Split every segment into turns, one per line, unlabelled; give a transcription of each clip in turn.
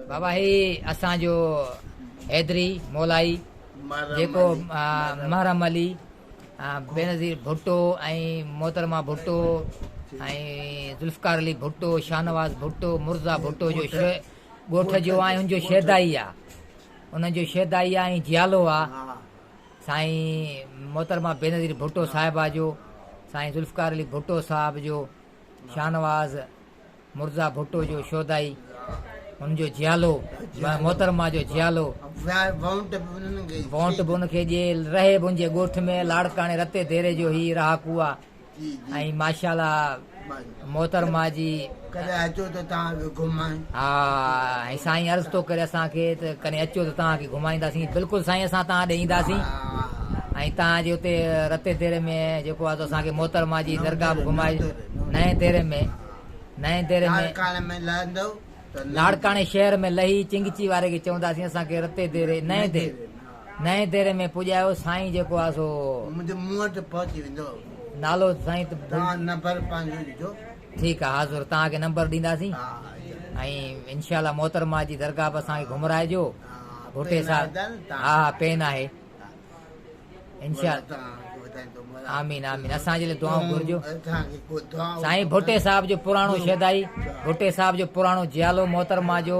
بابا هي اسان جو حيدري مولائي جيڪو محرم علي بينظير ڀٽو ۽ محترمه ڀٽو ۽ ذوالفقار علي ڀٽو شاهنواز ڀٽو مرزا ڀٽو جو ڳوٺ جو آهي ان جو شيدائي آهي انهن جو شيدائي آهي ۽ جيالو آهي سائين محترمه بينظير ڀٽو صاحبه جو، سائين ذوالفقار علي ڀٽو صاحب جو، شاهنواز مرزا ڀٽو جو شودائي هن جو جيالو محترمه جو جيالو وونٽ به ان کي ڏي، رهي منهنجي ڳوٺ ۾ لاڙڪاڻي رتي ديري جو هي رهاڪو آ. ۽ ماشاءالله محترمه جي ڪڏهن اچو ته توهان کي گهمائين ها ۽ سائين عرض ٿو ڪري اسان کي ته ڪڏهن اچو ته توهان کي گهمائينداسين بلڪل سائين اسان توهان ڏي اينداسين ۽ توهان جي اتي رتي ديري ۾ جيڪو آهي اسان کي محترمه جي درگاهه به گهمائي نئين ديري ۾ نئين ديري ۾ لاڙڪاڻي ۾ لهندو لاڙڪاڻي شهر ۾ لهي چنگچي واري کي چونداسين اسان کي رتي ديري نئين ديري نئين ديري ۾ پڄايو. سائين جيڪو آ سو. منهنجي منهن تي
پهچي ويندو. نالو سائين
ته. توهان نمبر
پنهنجو ڏجو. ٺيڪ آ حاضر
توهان کي نمبر ڏينداسين. ها ها ائين انشاء الله محترمه جي درگاهه به اسان کي گهمرائجو ڀٽي صاحب ها ها پين آهي انشاء آمين آمين اسان جي لاء دعائون گهرجو سائين ڀٽي صاحب جو پراڻو شيدائي ڀٽي صاحب جو پراڻو جيالو محترمه جو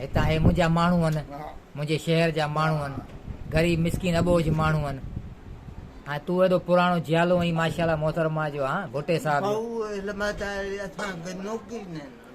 هتان
هي منهنجا ماڻهو هن، منهنجي شهر جا ماڻهو هن، غريب مسڪين اٻوجهه ماڻهو هن. هان تون ايڏو پراڻو جيالو اهين ماشاءالله محترمه جو هان ڀٽي صاحب
جو.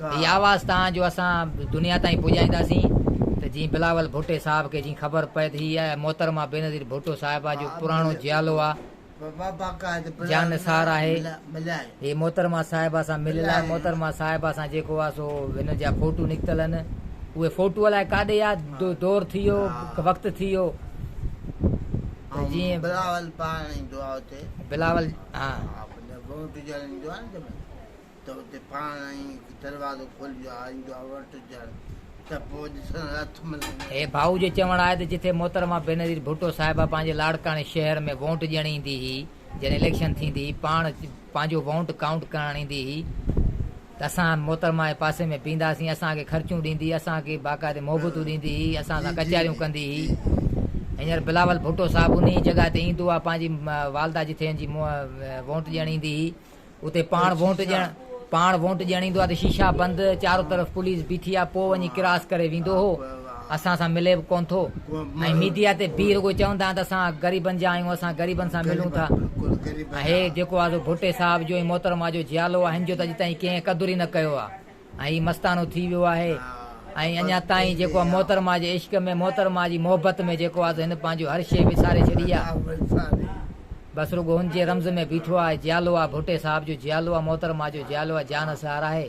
اها واز تان جو اسان دنيا تائين پڄائينداسين ته جيئن بلاول ڀٽي صاحب کي جيئن خبر پئي ته هي آهي محترمه بينظير ڀٽو صاحبه جو پراڻو جيالو آ جان نثار آهي هي محترمه صاحبه سان مليل آهي محترمه صاحبه سان جيڪو آ سو هنن جا فوٽو نڪتل هن اهي فوٽو الائي ڪاڏي آ دور ٿي ويو وقت ٿي ويو جيئن بلاول
پاڻ بلاول ها جڏهن ڀون ٽجهڙ ايندو آهي نه جنهن مهل ته اتي پاڻ ئي دروازو کولجي آ ايندو آهي ور ٽجهڙ ته پوء ڏسڻ لاء اٿ ملندي آهي. هي ڀائو جو چوڻ
آهي ته جٿي محترمه بينظير ڀٽو صاحبه پنهنجي لاڙڪاڻي شهر ۾ وونٽ ڏيڻ ايندي هئي جڏهن اليڪشن ٿيندي هئي پاڻ پنهنجو وونٽ ڪائونٽ ڪرڻ ايندي هئي، ته اسان محترمه جي پاسي ۾ پيئنداسين، اسان کي خرچون ڏيندي، اسان کي باقاعدي محبتون ڏيندي هئي، اسان سان ڪچهريون ڪندي هئي. هينئر بلاول ڀٽو صاحب انهيء ئي جڳهه تي ايندو آهي، پنهنجي والده جتي هن جي وونٽ ڏيڻ ايندي هئي، اتي پاڻ وونٽ ڏيڻ، پاڻ وونٽ ڏيڻ ايندو آهي ته شيشا بند، چارو طرف پوليس بيٺي آهي، پوء وڃي ڪراس ڪري ويندو هو. اسان سان ملي به ڪونه ٿو ۽ ميڊيا تي بيهي رڳو چوندا آهن ته اسان غريبن جا آهيون اسان غريبن سان ملون ٿا ۽ هي جيڪو آزو ڀٽي صاحب جو ۽ محترم آجو جيالو آهن جو ته اڄ تائين ڪنهن قدر ئي نه ڪيو آهي ۽ هي مستانو ٿي ويو آهي ۽ اڃا تائين جيڪو آ محترم آجي عشق ۾ محترم آجي محبت ۾ جيڪو آزو هن پنهنجو هر شيء وساري ڇڏي آ بس رڳو هن جي رمز ۾ بيٺو آهي جيالو آ ڀٽي صاحب جو جيالو آ محترم آجو جيالو آ جان سهار آهي.